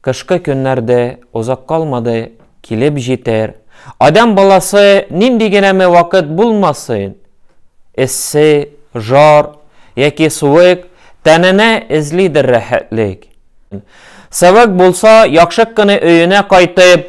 Кышкы көннәр дә озак калмады, килеп җитәр. Адәм баласы нинди генәме вакыт булмасын, эссе, жар яки суык тәненә эзлидер рәхәтлек. Сывык булса, яхшык кына өенә кайтып,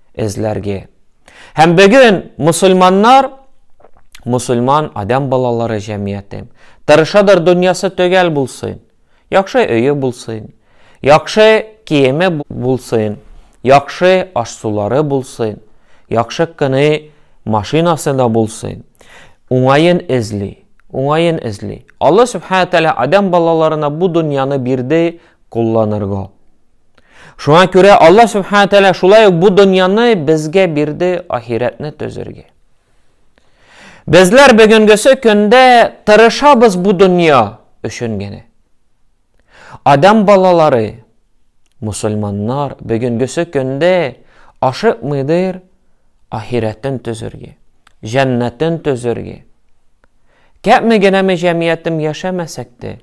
эзләрге. Һәм бөген мосылманнар, мосылман адәм балалары җәмгыяте, тырышадыр дөньясы төгәл булсын, яхшы өе булсын, яхшы киеме булсын, яхшы аш-сулары булсын, яхшы кыны машинасы да булсын, уңаен эзли, уңаен эзли. Алла Субхана Тәлә адәм балаларына бу дөньяны бирде кулланырга. Шуңа күрә Алла Субхана Тәлә шулай ук бу дөньяны безгә бирде ахирәтне төзергә. Безләр бүгенгесе көндә тырышабыз бу дөнья өчен генә. Адам балалары, мусульманнар бүгенгесе көндә ашыкмыйдыр ахирәтен төзергә, җәннәтен төзергә. Кәпме генәме җәмиятем яшәмәсәк тә,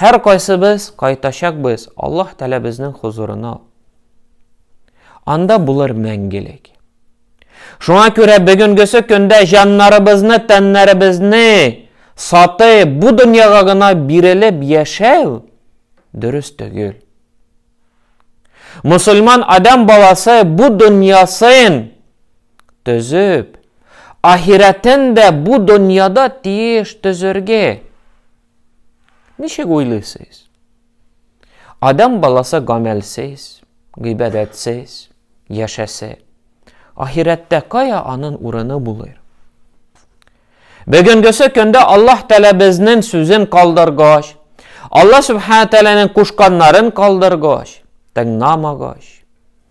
Һәркайсыбыз кайтачакбыз Аллаһ Тәләбезнең хозурына. Анда булыр мәңгелек. Шуңа күрә бөгенгесе көндә җаннарыбызны, тәннәребезне саты бу дөньяга гына бирелеп яшәү дөрес түгел. Мусульман адам баласы бу дөньясын төзеп, ахирәтен дә бу дөньяда тиеш төзергә. Ничек уйлыйсыз? Адам баласы гамәлсез, гыйбадәтсез яшәсә, ахирәттә кая анын урыны булыр? Бүгенгесе көндә Аллаһ Тәгалә безнең сүзен калдыргач, Аллаһ Субхана Тәгаләнең кушканнарын калдыргач, тыңламагач,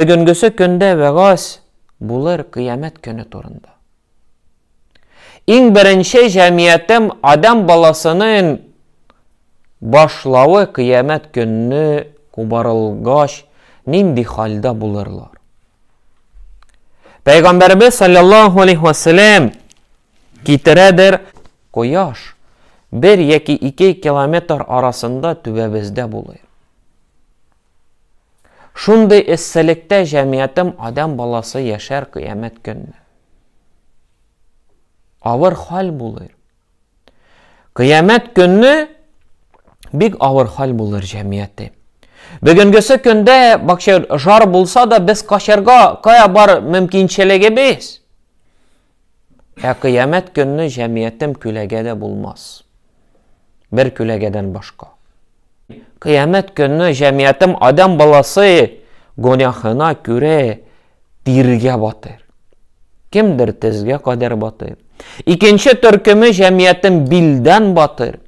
Бөгенгесе көндә вәгазь булыр кыямәт көне турында. Иң беренче җәмиятем Адам баласының башлавы кыямәт көнне кубарылгач нинди хәлдә булырлар? Пәйгамбәрбез саллаллаһу алейхи ва саллям китерәдер кояш бер яки ике километр арасында түбәбездә булыр. Шундый эсселектә җәмиятем адәм баласы яшәр кыямәт көнне. Авыр хәл булыр. Кыямәт көнне бик авыр хәл булыр җәмияте. Бүгенгесе көндә бакча жар булса да без качарга кая бар мөмкинчелегебез. Ә кыямәт көнне җәмиятем күләгә дә булмас. Бер күләгәдән башка. Кыямәт көнне җәмиятем адәм баласы гөнаһына күрә тиргә батыр. Кемдер тезгә кадәр батыр. Икенче төркеме җәмиятем билдән батыр.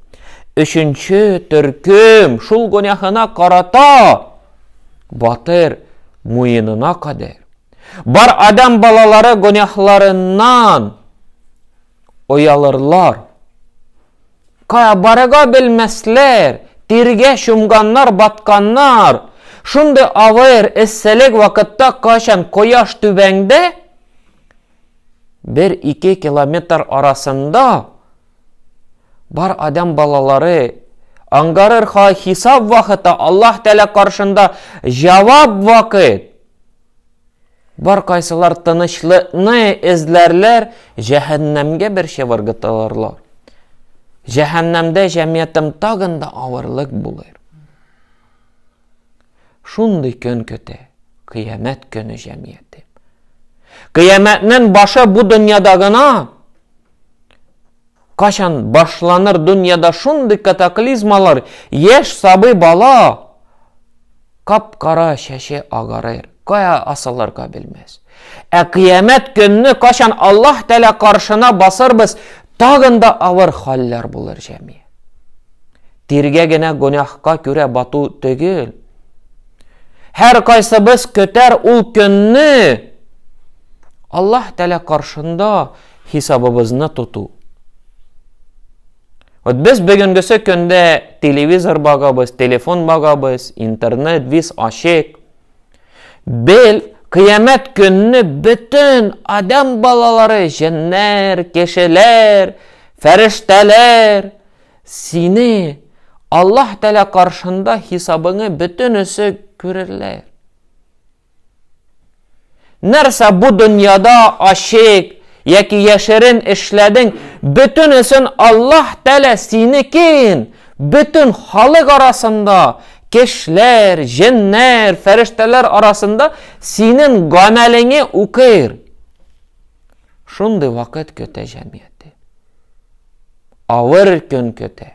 Өченче төркем шул гөнаһына карата батыр муенына кадәр. Бар адәм балалары гөнаһларыннан оялырлар. Барыга белмәсләр, тиргә чумганнар, батканнар. Шундый авыр эсселек вакытта качан кояш түбәңдә, бер-ике километр арасында Бар адәм балалары аңгарыр ха хисап вакыты Аллаһ Тәлә каршында җавап вакыт. Бар кайсылар тынычлыкны эзләрләр, җәһәннәмгә бер чыбыргытылырлар. Җәһәннәмдә җәмиятем тагын да авырлык булыр. Шундый көн көтә, кыямәт көне җәмияте. Кыямәтнең башы бу дөньяда гына. Качан башланыр дөньяда шундый катаклизмалар, яшь сабый бала кап-кара чәче агарыр, кая асылырга белмәс. Ә кыямәт көнне качан Аллаһ Тәлә каршына басырбыз, тагын да авыр хәлләр булыр җәми. Тиргә генә гөнаһка күрә бату түгел. Һәр кайсыбыз көтәр ул көнне. Аллаһ Тәлә каршында хисабыбызны тоту. Вот без бүгенгесе көндә телевизор багабыз, телефон багабыз, интернет, виз ачык. Бел, кыямәт көнне бөтен адам балалары, җеннәр, кешеләр, фәрештәләр сине Аллаһ Тәгалә каршында хисабыңы бөтенесе күрерләр. Нәрсә бу дөньяда ачык яки яшерен эшләдең, бөтенесен Аллаһ Тәлә синекен бөтен халык арасында, кешеләр, җеннәр, фәрештәләр арасында синең гамәлеңе укыр. Шундый вакыт көтә җәмгыяте. Авыр көн көтә.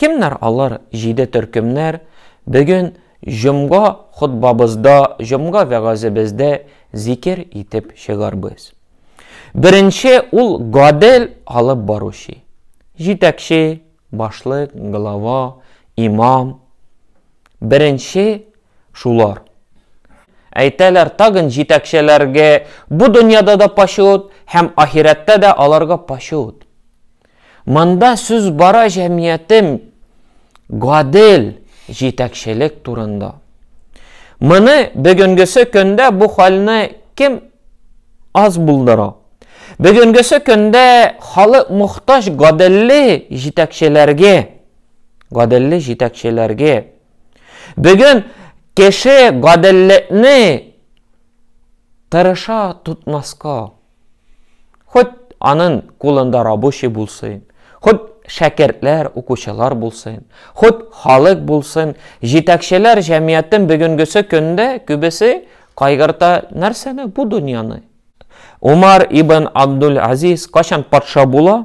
Кемнәр алар җиде төркемнәр? Бүген җомга хотбабызда, җомга вәгазебездә зикер итеп чыгарбыз. Беренче ул гадел алып баручы. Җитәкче, башлык, глава, имам. Беренче шулар. Әйтәләр, тагын җитәкчеләргә бу дөньяда да почет һәм ахирәттә дә аларга почет. Монда сүз бара җәмиятем гадел җитәкчелек турында. Моны бөгенгесе көндә бу хәлне кем аз булдыра? Бөгенгесе көндә халык мохтаҗ гаделле җитәкчеләргә. Гаделле җитәкчеләргә. Бүген кеше гаделлекне тырыша тотмаска. Хоть анын кулында рабочий булсын, хоть шәкертләр, укучылар булсын, хоть халык булсын, җитәкчеләр җәмиятен бөгенгесе көндә күбесе кайгырта нәрсәне, бу дөньяны. Умар ибн Абдул-Азиз кайчан патша була?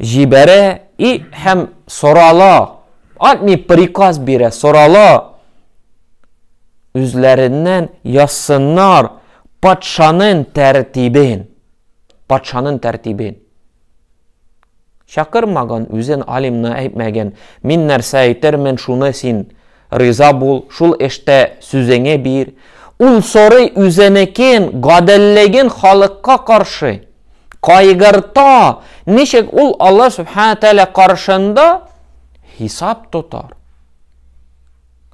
җибәрә и һәм сорала, атми приказ бирә, сорала, үзләреннән язсыннар патшаның тәртибен. Патшаның тәртибен. Чакырмаган үзен алимны әйтмәгән. Мин нәрсә әйтермен, шуны син Риза бул, шул эштә сүзеңе бир. Ул сорый үзенекен, гаделлеген халыкка каршы. Кайгырта, ничек ул Алла Субхана Тәлә каршында хисап тотар.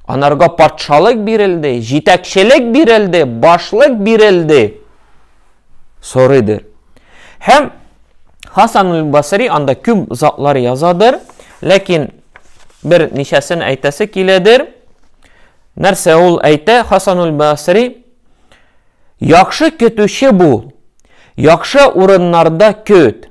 Анарга патшалык бирелде, җитәкчелек бирелде, башлык бирелде. сорыйдыр. Һәм Хасан аль-Басри анда күп затлар язадыр, ләкин бер ничәсен әйтәсе киләдер. Нәрсә ул әйтә? Хасан аль-Басри яхшы көтүче бул, яхшы урыннарда көт.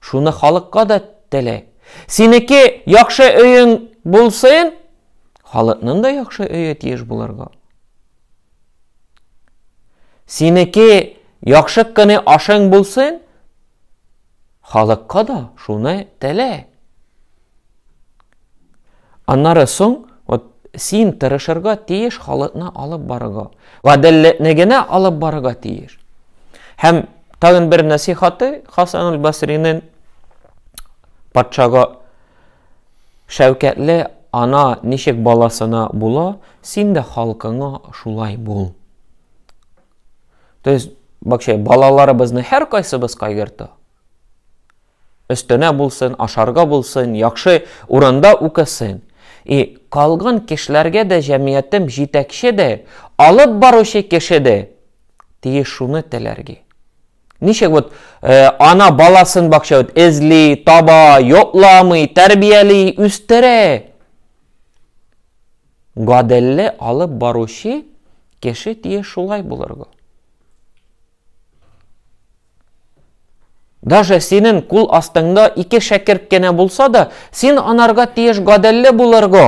Шуны халыкка да теле. Синеке яхшы өең булсын, халыкның да яхшы өе тиеш булырга. Синеке яхшы кыны ашың булсын, халыкка да шуны теле. Аннары соң, вот син тырышырга тиеш халыкны алып барырга. Гаделлекне генә алып барырга тиеш. Һәм тагын бер насихаты Хасан аль-Басринен патшага шәүкәтле ана ничек баласына була, син дә халкыңа шулай бул. То есть, бакча балаларыбызны һәркайсыбыз кайгырта. Өстенә булсын, ашарга булсын, яхшы урында укысын. И калган кешеләргә дә җәмиятем җитәкче дә, алып баручы кеше дә тиеш шуны теләргә. Ничек вот э, ана баласын бакча вот эзли, таба, йотламый, тәрбияли, үстерә. Гаделле алып баручы кеше тиеш шулай булырга. Даже синен кул астыңда ике шәкерт кенә булса да, син анарга тиеш гаделле булырго.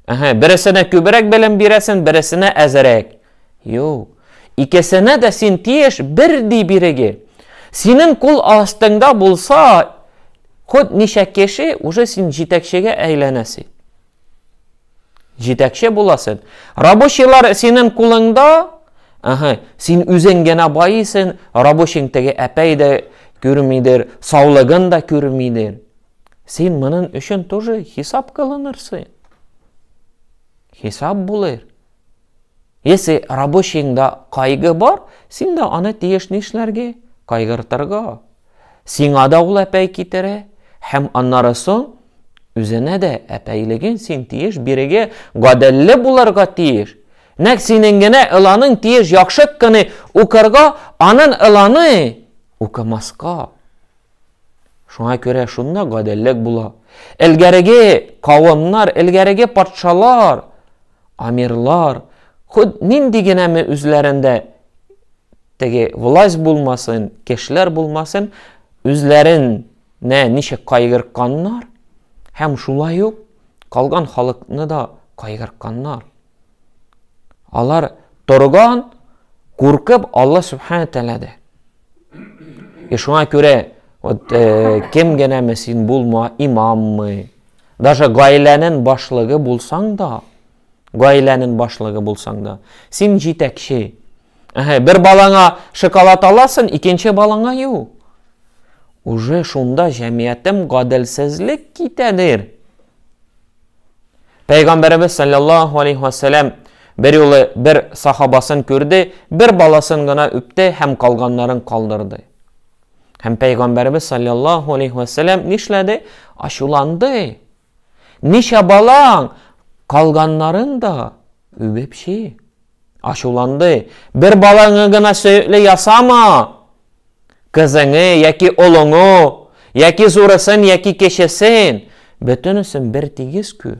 Әһә, бересенә күбрәк белем бирәсен, бересенә әзерәк. Юк. Икесенә дә син тиеш бер ди биреге. Синен кул астыңда булса, ход ничә кеше уже син җитәкчегә әйләнәсе. Җитәкче буласың. Рабочийлар синең кулыңда, ага, син үзең генә баисың, рабочиң теге әпәй дә күрмидер, саулыгын да күрмидер. Син моның өчен тоже хисап кылынырсың. Хисап булыр. Если рабочиеңда кайгы бар, син дә аны тиеш нишләргә? Кайгыртырга. Сиңа да ул әпәй китерә, һәм аннары соң үзенә дә әпәйлеген син тиеш бирегә гаделле булырга тиеш. Нәк синең генә ыланың тиеш яхшы кыны укырга, анын ыланы укымаска. Шуңа күрә шунда гаделлек була. Элгәреге кавымнар, элгәреге патшалар Амирлар, хут нинди генә ме үзләрендә теге власть булмасын, кешеләр булмасын, үзләрен нә ничек кайгыртканнар, һәм шулай ук калган халыкны да кайгыртканнар. Алар торган, куркып Алла Субхана Тәләдә. И шуңа күрә, вот, э, кем генә ме син булма, имаммы, Даже гаиләнен башлыгы булсаң да, гаиләнен башлыгы булсаң да, син җитәкче. Әһә, бер балаңа шоколад аласын, икенче балаңа ю. Уже шунда җәмиятем гаделсезлек китәдер. Пәйгамбәребез саллаллаһу алейхи ва саллям бер юлы бер сахабасын күрде, бер баласын гына үпте һәм калганнарын калдырды. Һәм Пәйгамбәребез саллаллаху алейхи ва сәлләм нишләде? Ачуланды. Ничә балаң калганнарын да үбеп чи. Ачуланды. Бер балаңы гына сөекле ясама. Кызыңы яки олыңы, яки зурысын, яки кечесен, бөтенесен бер тигез күр.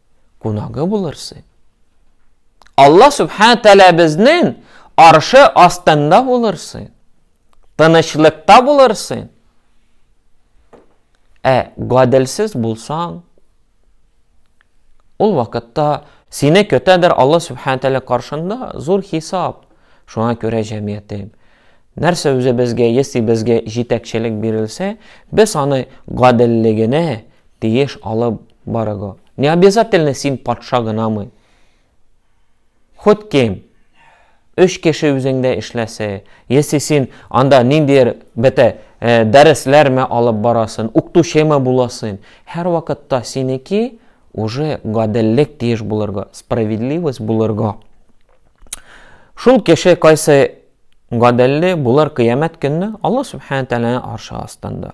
кунагы булырсың. Алла Субхана Тәлә безнең аршы астында булырсың. Тынычлыкта булырсың. Ә гаделсез булсаң, ул вакытта сине көтәдер Алла Субхана Тәлә каршында зур хисап. Шуңа күрә җәмгыятем нәрсә үзе безгә, если безгә җитәкчелек бирелсә, без аны гаделлегенә тиеш алып Барыго. Не обязательно син патша гынамы? Хоть кем. Өч кеше үзеңдә эшләсе. Если син анда ниндидер бетә э, дәресләрме алып барасын, укытучымы буласын, һәр вакытта синеки уже гаделлек тиеш булырга, справедливость булырга. Шул кеше кайсы гаделле булар кыямәт көнне Алла субхана тәгаләнең аршы астында.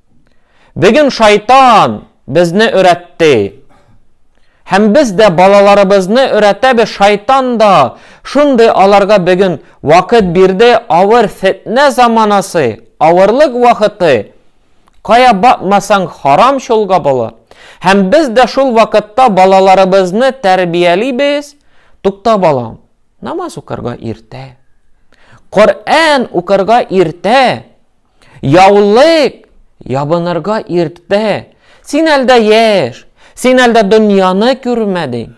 Бүген шайтан безне өйрәтте. Һәм без дә балаларыбызны өйрәтәбез, шайтан да шундый аларга бүген вакыт бирде, авыр фетнә заманасы, авырлык вакыты. Кая бакмасаң харам чолга була. Һәм без дә шул вакытта балаларыбызны тәрбиялибез, тукта балам, намаз укырга иртә. Коръән укырга иртә. Яулык ябынырга иртә. Син әлдә яшь. Син әлдә дөньяны күрмәдең.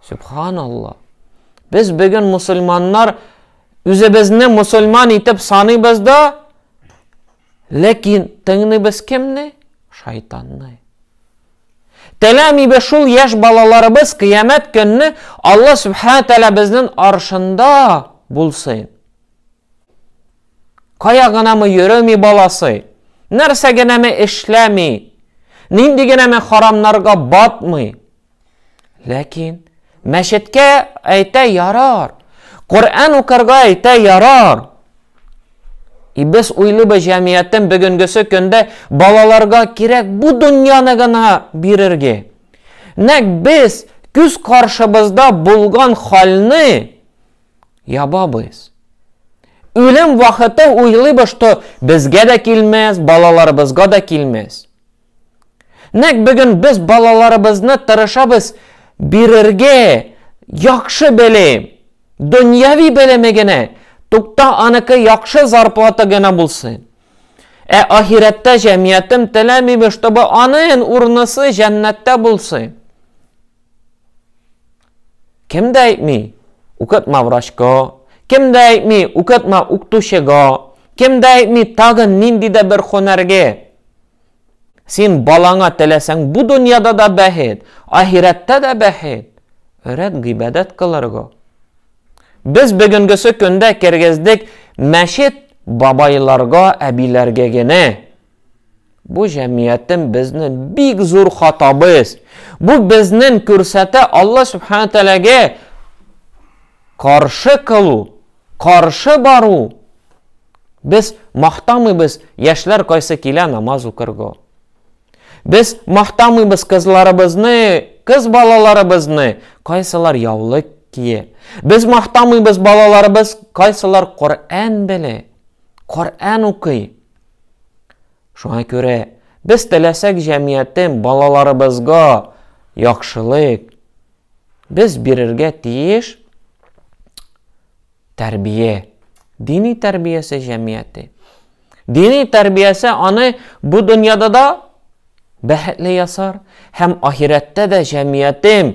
Субханалла. Без бүген мусульманнар үзебезне мусульман итеп саныйбыз да, ләкин тыңлыйбыз кемне? Шайтанны. Теләмибез шул яшь балаларыбыз кыямәт көнне Алла Субхана тәлә безнең аршында булсын. Кая гынамы йөреми баласы, нәрсә генәме эшләми, нинди генәме харамнарга батмый. Ләкин мәчеткә әйтә ярар, Коръән укырга әйтә ярар. И без уйлыбыз җәмиятен бүгенгесе көндә балаларга кирәк бу дөньяны гына бирергә. Нәк без күз каршыбызда булган хәлне ябабыз. Үлем вакыты уйлыйбыз, что безгә дә килмәс, балаларыбызга да килмәс. Нәк бүген без балаларыбызны тырышабыз бирергә, яхшы белем, дөньяви белеме генә, тукта аныкы яхшы зарплата генә булсын. Ә ахирәттә җәмиятем теләмибез, чтобы анын урнысы җәннәттә булсын. Кем дә әйтми, укытма врачка, кем дә әйтми, укытма укытучыга, кем дә әйтми тагын нинди дә бер һөнәргә. Син балаңа теләсәң бу дөньяда да бәхет, ахирәттә дә бәхет. Өрәт гыйбадәт кылырга. Без бүгенгесе көндә кергездек мәчет бабайларга, әбиләргә генә. Бу җәмиятем безне бик зур хатабыз. Бу безнен күрсәтә Алла Субхану Тәләгә каршы кылу, каршы бару. Без мактамыйбыз яшьләр кайсы килә намаз укырга. Без мактамыйбыз кызларыбызны, кыз балаларыбызны, кайсылар яулык кие. Без мактамыйбыз балаларыбыз, кайсылар Коръән белә, Коръән укый. Шуңа күрә без теләсәк җәмгыятем балаларыбызга яхшылык без бирергә тиеш тәрбия. Дини тәрбиясе җәмгыяте. Дини тәрбиясе аны бу дөньяда да бәхетле ясар һәм ахирәттә дә җәмгыятем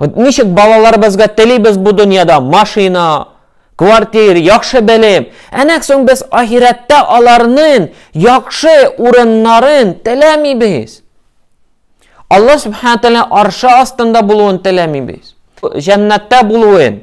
Вот ничек балаларыбызга телибез бу дөньяда машина, квартир, яхшы белем. Әнәк соң без ахирәттә аларның яхшы урыннарын теләмибез. Алла Субхану Тәгалә аршы астында булуын теләмибез. Җәннәттә булуын.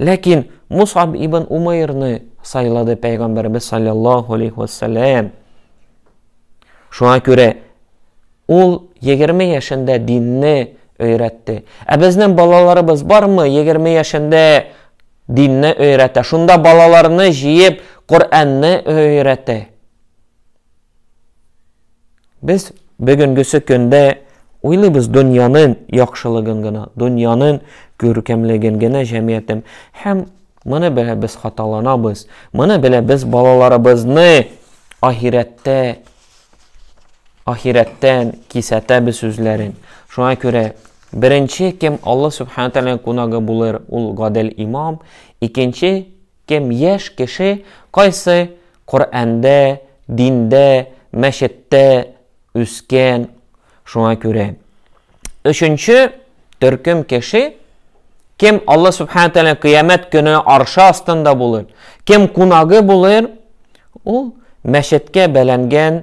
Ләкин Мусаб ибн Умайрны сайлады пәйгамбәрбез саллаллаһу алейхи вәссәләм. Шуңа күрә ул 20 яшендә динне өйрәтте. Ә безнең балаларыбыз бармы 20 яшендә динне өйрәтә? Шунда балаларны җыеп Коръәнне өйрәтә. Без бүгенгесе көндә уйлыйбыз дөньяның яхшылыгын гына, дөньяның күркәмлеген генә җәмгыятем. Һәм моны белә без хаталанабыз. Моны белә без балаларыбызны ахирәттә ахирәттән кисәтәбез үзләрен. Шуңа күрә беренче кем Алла Субхану тәгаләнең кунагы булыр, ул гадел имам, икенче Кем яшь кеше кайсы Коръәндә, диндә, мәчеттә үскән, шуңа күрә. Өченче төркем кеше, кем Алла Субхана Тәлә кыямәт көне аршы астында булыр, кем кунагы булыр, ул мәчеткә бәләнгән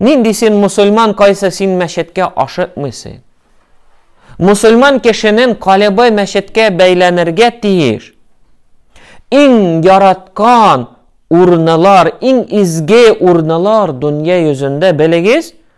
Нинди син мусульман, кайсы син мәчеткә ашыкмыйсы? Мусульман кешенен калебы мәчеткә бәйләнергә тиеш. Иң яраткан урнылар, иң изге урнылар дөнья йөзендә белегез,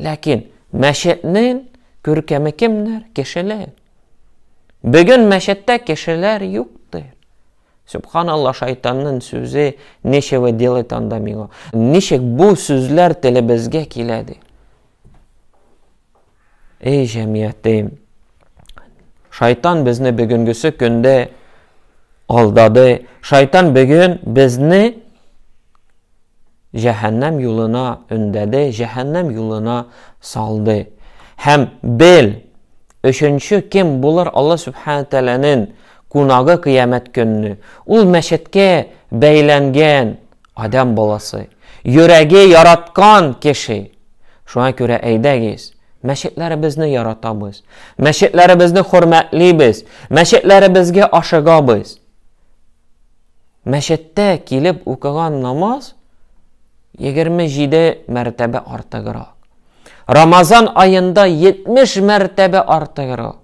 Ләкин мәчетнең күркәме кемнәр? Кешеләр. Бүген мәчеттә кешеләр юктыр. Субханалла шайтанның сүзе нечего делать анда миңа. Ничек бу сүзләр телебезгә киләде? Эй җәмиятем, шайтан безне бүгенгесе көндә алдады. Шайтан бүген безне җәһәннәм юлына өндәде, җәһәннәм юлына салды. Һәм бел, өченче кем булыр Алла Субхана Тәләнен кунагы кыямәт көнне. Ул мәчеткә бәйләнгән Адәм баласы, йөрәге яраткан кеше. Шуңа күрә әйдәгез, мәчетләребезне яратабыз, мәчетләребезне хөрмәтлибез, мәчетләребезгә ашыгабыз. Мәчеттә килеп укыган намаз 27 мәртәбә артыграк. Рамазан аенда 70 мәртәбә артыграк.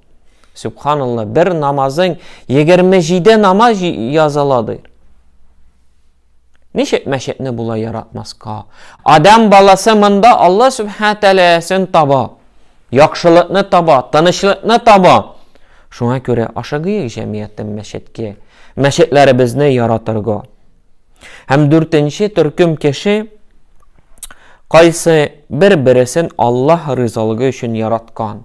Субханалла, бер намазың 27 намаз языладыр. Ничек мәчетне болай яратмаска? Адам баласы монда Алла Сүбхәнә Тәгаләсен таба, яхшылыкны таба, тынычлыкны таба. Шуңа күрә ашыгыйк җәмгыятем мәчеткә, мәчетләребезне яратырга. Һәм дүртенче төркем кеше кайсы бер-бересен Аллаһ ризалыгы өчен яраткан.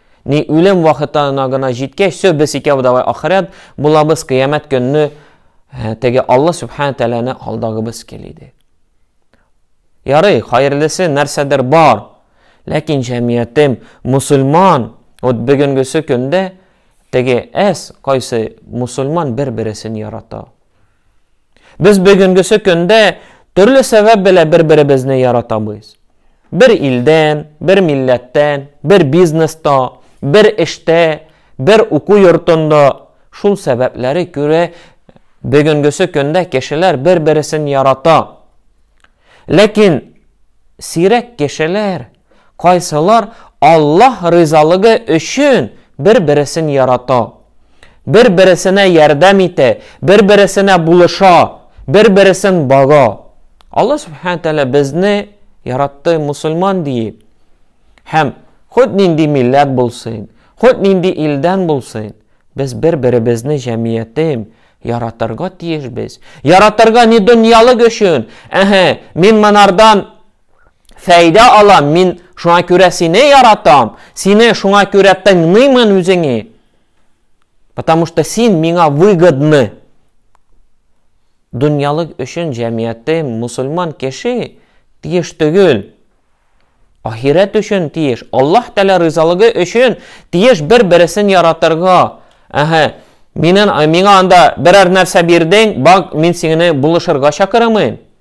Ни үлем вахытына гына җиткәч, все, без икәү давай ахырәт булабыз, кыямәт көнне э, теге Алла Субхана Тәләне алдагыбыз кили ди. Ярый, хәерлесе нәрсәдер бар, ләкин җәмиятем мусульман, вот бүгенгесе көндә теге әс кайсы мусульман бер-бересен ярата. Без бүгенгесе көндә төрле сәбәп белән бер-беребезне яратабыз. Бер илдән, бер милләттән, бер бизнеста, бер эштә, бер уку йортында шул сәбәпләре күрә бүгенгесе көндә кешеләр бер-бересен ярата. Ләкин сирәк кешеләр Кайсылар Аллаһ ризалыгы өчен бер-бересен ярата, бер-бересенә ярдәм итә, бер-бересенә булыша, бер-бересен бага. Аллаһ Сүбхәнә Тәгалә безне яратты мусульман диеп. Һәм хут нинди милләт булсын, хут нинди илдән булсын, без бер-беребезне җәмиятем яратырга тиешбез. Яратырга ни дөньялык өчен, әһә, мин монардан Фәйдә алам, мин шуңа күрә сине яратам, сине шуңа күрә тыңлыймын үзеңе. Потому что син миңа выгодны. Дөньялык өчен җәмгыяте мусульман кеше тиеш түгел. Ахирәт өчен тиеш, Аллаһ Тәгалә ризалыгы өчен тиеш бер-бересен яратырга. Әһә, минен миңа анда берәр нәрсә бирдең, бак, мин сине булышырга чакырамын.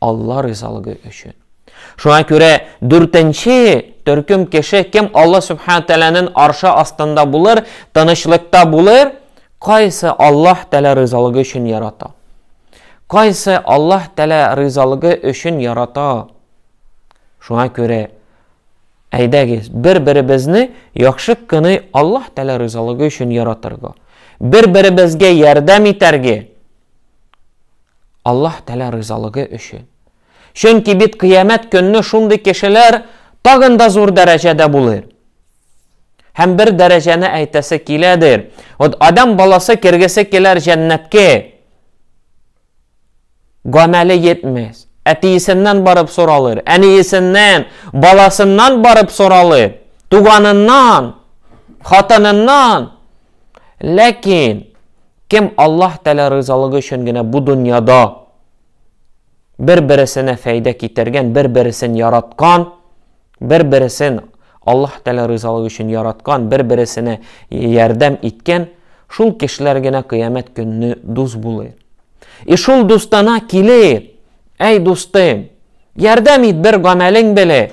Алла ризалыгы өчен. Шуңа күрә дүртенче төркем кеше кем Алла Субхану Тәләнен аршы астында булыр, тынычлыкта булыр, кайсы Алла Тәлә ризалыгы өчен ярата. Кайсы Алла Тәлә ризалыгы өчен ярата. Шуңа күрә әйдәгез, бер-беребезне яхшы кыны Алла Тәлә ризалыгы өчен яратырга. Бер-беребезгә ярдәм итәргә. Аллаһ Тәгалә ризалыгы өчен. Чөнки бит кыямәт көнне шундый кешеләр тагын да зур дәрәҗәдә булыр. Һәм бер дәрәҗәне әйтәсе киләдер. Вот адам баласы кергесе киләр җәннәткә. Гамәле йетмәс. Әтиесеннән барып соралыр, әниесеннән, баласыннан барып соралыр, туганыннан, хатыныннан, Ләкин кем Аллаһ Тәгалә ризалыгы өчен генә бу дөньяда бер-бересенә фәйдә китергән, бер-бересен яраткан, бер-бересен Аллаһ Тәгалә ризалыгы өчен яраткан, бер-бересенә ярдәм иткән, шул кешеләр генә кыямәт көнне дус булыр. И шул дустана килеп, әй дустым, ярдәм ит бер гамәлең беле.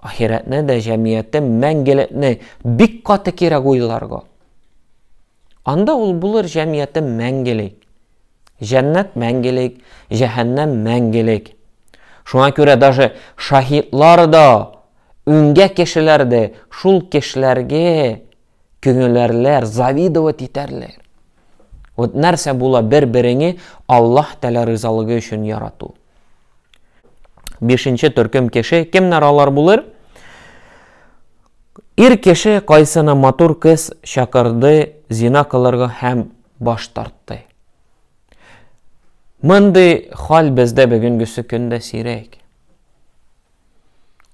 Ахирәтне дә, җәмгыятьтә мәңгелекне бик каты кирәк уйларга. Анда ул булыр җәмгыяте мәңгелек. Җәннәт мәңгелек, җәһәннәм мәңгелек. Шуңа күрә даже шаһидлар да үңгә кешеләр дә шул кешеләргә Көнеләрләр, завидовать итәрләр. Вот нәрсә була бер-береңе Аллаһ Тәлә ризалыгы өчен ярату. Бишенче төркем кеше, кемнәр алар булыр? Ир кеше кайсына матур кыз чакырды зина кылырга һәм баш тартты. Мондый хал бездә бүгенгесе көндә сирәк.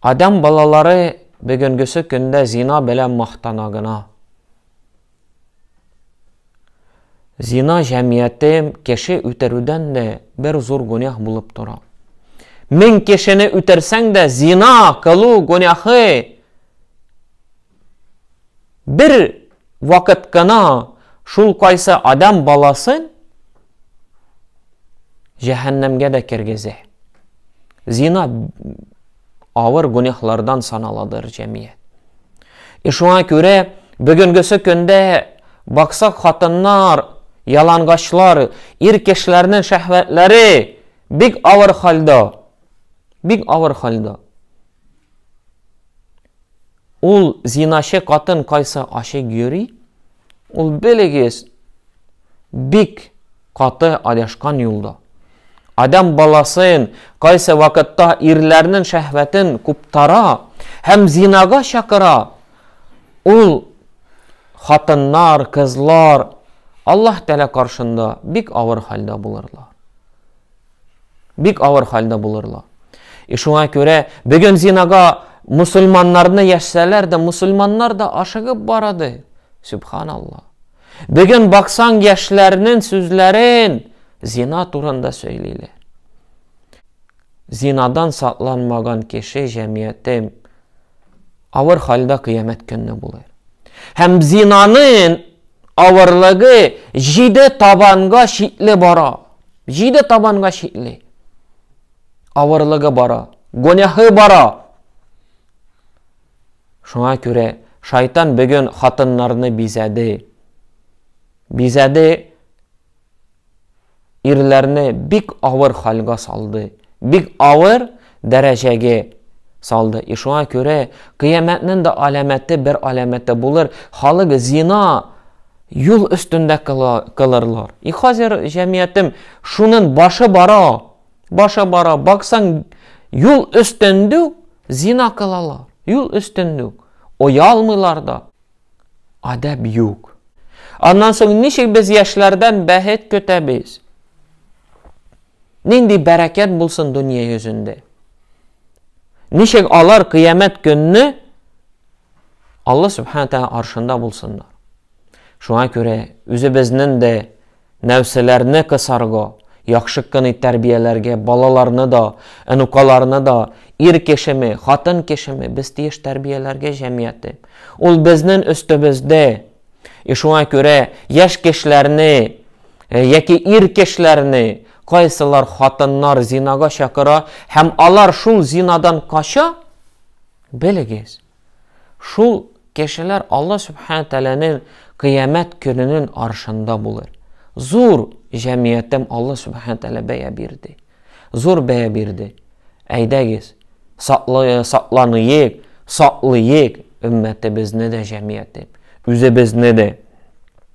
Адәм балалары бөгенгесе көндә зина белән мактана гына. Зина җәмияте кеше үтерүдән дә бер зур гүнях булып тора. Мең кешене үтерсәң дә, зина кылу гүнәхе Бер вакыт кына шул кайсы адам баласын җәһәннәмгә дә кергезә. Зина авыр гүнәһлардан саналадыр җәмият. И шуңа күрә бүгенгесе көндә баксак хатыннар, ялангачлар, ир кешеләрнең шәһвәтләре бик авыр хәлдә. Бик авыр хәлдә. Ул зиначы катын кайсы ачык йөри, ул белегез бик каты адашкан юлда. Адам баласын кайсы вакытта ирләрнен шәһвәтен куптара һәм зинага чакыра, ул хатыннар, кызлар Аллаһ Тәлә каршында бик авыр хәлдә булырлар. Бик авыр хәлдә булырлар. И шуңа күрә бүген зинага мусульманнарны яшсәләр дә, мусульманнар да ашыгып бара ди. Субханалла. Бүген баксаң яшьләрнең сүзләрен зина турында сөйлиләр. Зинадан сакланмаган кеше җәмгыятем Авыр хәлдә кыямәт көнне булыр. Һәм зинанын авырлыгы җиде табанга чикле бара. Җиде табанга чикле. Авырлыгы бара. Гонәһы бара. Шуңа күрә шайтан бүген хатыннарны бизәде. Бизәде ирләрне бик авыр хәлгә салды, бик авыр дәрәҗәгә салды. И шуңа күрә кыямәтнең дә аләмәте бер аләмәте булыр, халык зина юл өстендә кылырлар. И хәзер җәмиятем шунын башы бара, башы бара, баксаң юл өстендә зина кылалар, юл өстендә. Оялмыйлар да. Адәп юк. Аннан соң ничек без яшьләрдән бәхет көтәбез? Нинди бәрәкәт булсын дөнья йөзендә? Ничек алар кыямәт көнне Алла субхана тәгалә аршында булсыннар? Шуңа күрә үзебезнең дә Нәрсәләрне кысарго, яхшы кыни тәрбияләргә балаларны да, энукаларны да, ир кешеме, хатын кешеме, без тиеш тәрбияләргә җәмиятне. Ул безнен өстебездә. И шуңа күрә яшь кешеләрне, яки ир кешеләрне кайсылар хатыннар зинага чакыра һәм алар шул зинадан кача, белегез. Шул кешеләр Алла Сүбхәнә Тәгаләнең Кыямәт көненең аршында булыр. Зур җәмгыятем Алла Сүбхәнә Тәгалә бәя бирде. Зур бәя бирде. Әйдәгез, сакланыйк, саклыйк өммәтебезне дә, җәмгыятеб, үзебезне дә.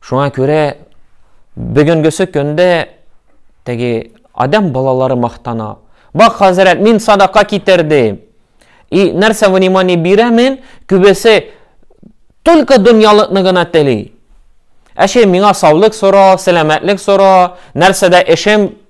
Шуңа күрә бүгенгесе көндә теге адам балалары мактана. Бак, хәзрәт, мин садака китердем. И нәрсә внимание бирәмен, күбесе только дөньялыкны гына тели. Әше миңа саулык сора, сәламәтлек сора, нәрсәдә эшем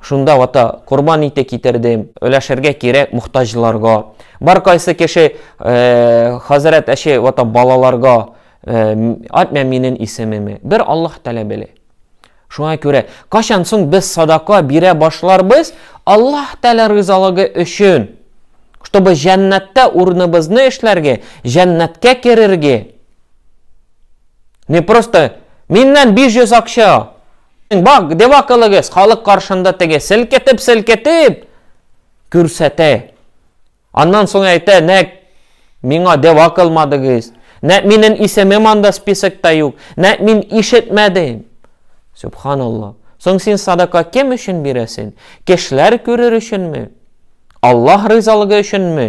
Шунда вата корбан ите китердем. Өләшергә кирәк мохтаҗларга. Бар кайсы кеше хәзрәт әче вата балаларга атмә минен исемеме. Бер Аллаһ тәлә беле. Шуңа күрә, качан соң без садака бирә башларбыз, Аллаһ тәлә ризалыгы өчен, чтобы җәннәттә урыныбызны эшләргә, җәннәткә керергә. Не просто миннән 500 акча Бак, деп акылыгыз, халык каршында теге селкетеп-селкетеп күрсәтә. Аннан соң әйтә, нәк миңа деп акылмадыгыз. Нәк минем исемем анда списокта юк. Нәк мин ишетмәдем. Субханаллах. Соң син садака кем өчен бирәсен? Кешеләр күрер өченме? Аллаһ ризалыгы өченме?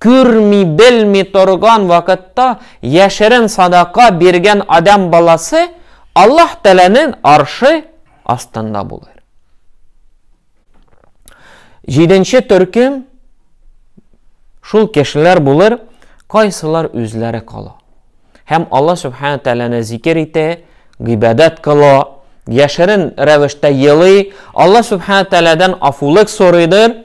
Күрми-белми торган вакытта яшерен садака биргән адәм баласы Аллаһ Тәгаләнең аршы астында булыр. Җиденче төркем шул кешеләр булыр, кайсылар үзләре кала. Һәм Аллаһ Субхана Тәгаләне зикер итә, гыйбадәт кыла, яшерен рәвештә елый, Аллаһ Субхана Тәгаләдән афулык сорыйдыр,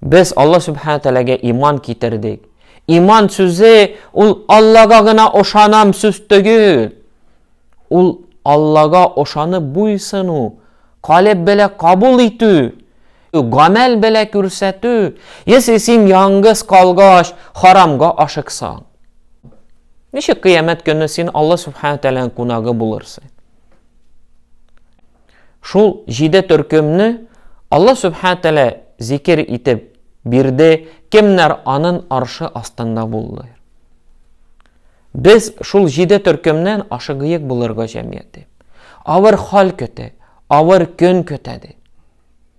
Без Алла Сүбхәнә Тәгаләгә иман китердек. Иман сүзе ул Аллага гына ошанам сүз түгел. Ул Аллага ошанып буйсыну, калеб белә кабул итү, гамәл белә күрсәтү. Если син яңгыз калгач, харамга ашыксаң, ничек кыямәт көне син Алла Сүбхәнә Тәгаләнең кунагы булырсың? Шул җиде төркемне Алла Сүбхәнә Тәгалә зикер итеп бирде, кемнәр анын аршы астында булдылар. Без шул җиде төркемнән ашыгыек булырга җәмгыяте. Авыр хәл көтә, авыр көн көтә ди.